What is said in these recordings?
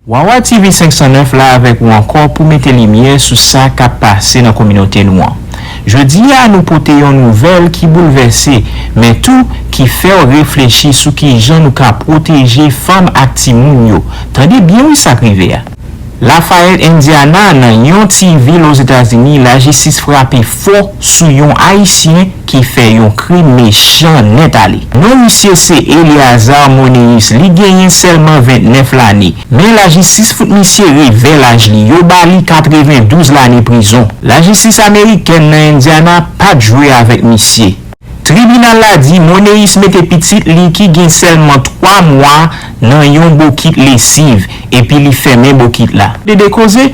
Wawa TV 509 la avèk ou ankò pou mete limyè sou sa kap pase nan kominote nou an. Jodi a nou pote yon nouvèl ki boulvèse men tou ki fèw reflechi sou kijan nou ka pwoteje fanm ak timoun yo. Tande byen wi sak rive a. Lafayette Indiana nan yon ti vil Ozetazini lajistis frape Fo sou yon ayisyen ki fè yon krim mechan nèt ale. Non misye se Eleazar Moneus li genyen sèlman 29 lane men lajistis fout misye revè laj li yo ba li 92 lane prizon. Lajistis amerikèn nan Indiana pat jwe avèk misye. Tribinal la di Moneus mete pitit li ki gen sèlman 3 mwa nan yon bokit lesiv epi li fèmen bokit la. Dede koze,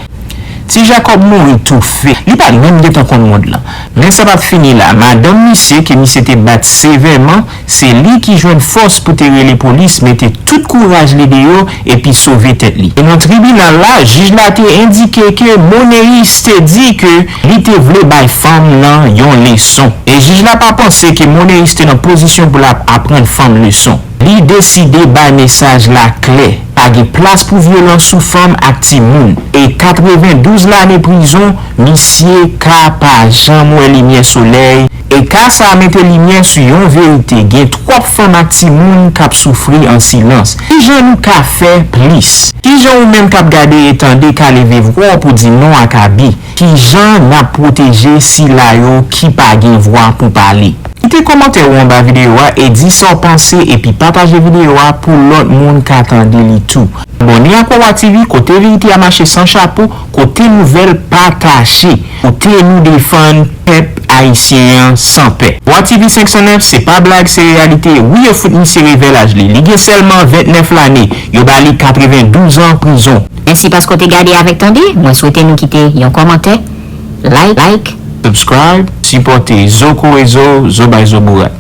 Ti Jakòb mouri toufe. Li pa t menm gen tan konn mond lan. Men sa pa t fini la, madanm misye ke misye te bat sevèman, se li ki jwenn fòs pou te rele polis mete tout kouraj li deyò epi sove tèt li. Devan tribinal la, jij la te endike ke Moneus te di ke Li te vle bay fanm lan yon leson. E jij la pa panse ke Moneyis te nan pozisyon pou l ap aprann fanm leson. Li deside bay mesaj la klè, pa gen plas pou vyolans sou fanm ak timoun. E 92 lane prizon, misye ka pa janm wè limyè solèy. E ka sa mete limyè sou yon verite gen twòp fanm ak timoun k ap soufri an silans. Ki jan nou ka fè plis? Ki jan ou menm k ap gade e tande ka leve vwa w pou di non ak abi? Ki jan n ap pwoteje sila yo ki pa gen vwa pou pale? Kite kòmantè ou anba videyo a e di sa w panse epi pataje videyo a pou lòt moun ka tande li tou. Abòne ak Wawa TV kote verite a mache san chapo, kote nouvèl pa kache. Kote nou defann pèp ayisyen an san pè. Bwa TV 509 se pa blag se reyalite wi yo fout misye revè laj li li gen sèlman 29 lane yo ba li 92 ans prizon. Mèsi paske w te gade avèk tande, mwen swete nou kite yon kòmantè, like. Subscribe, sipòte, zo kore zo, zo bay zo bourad.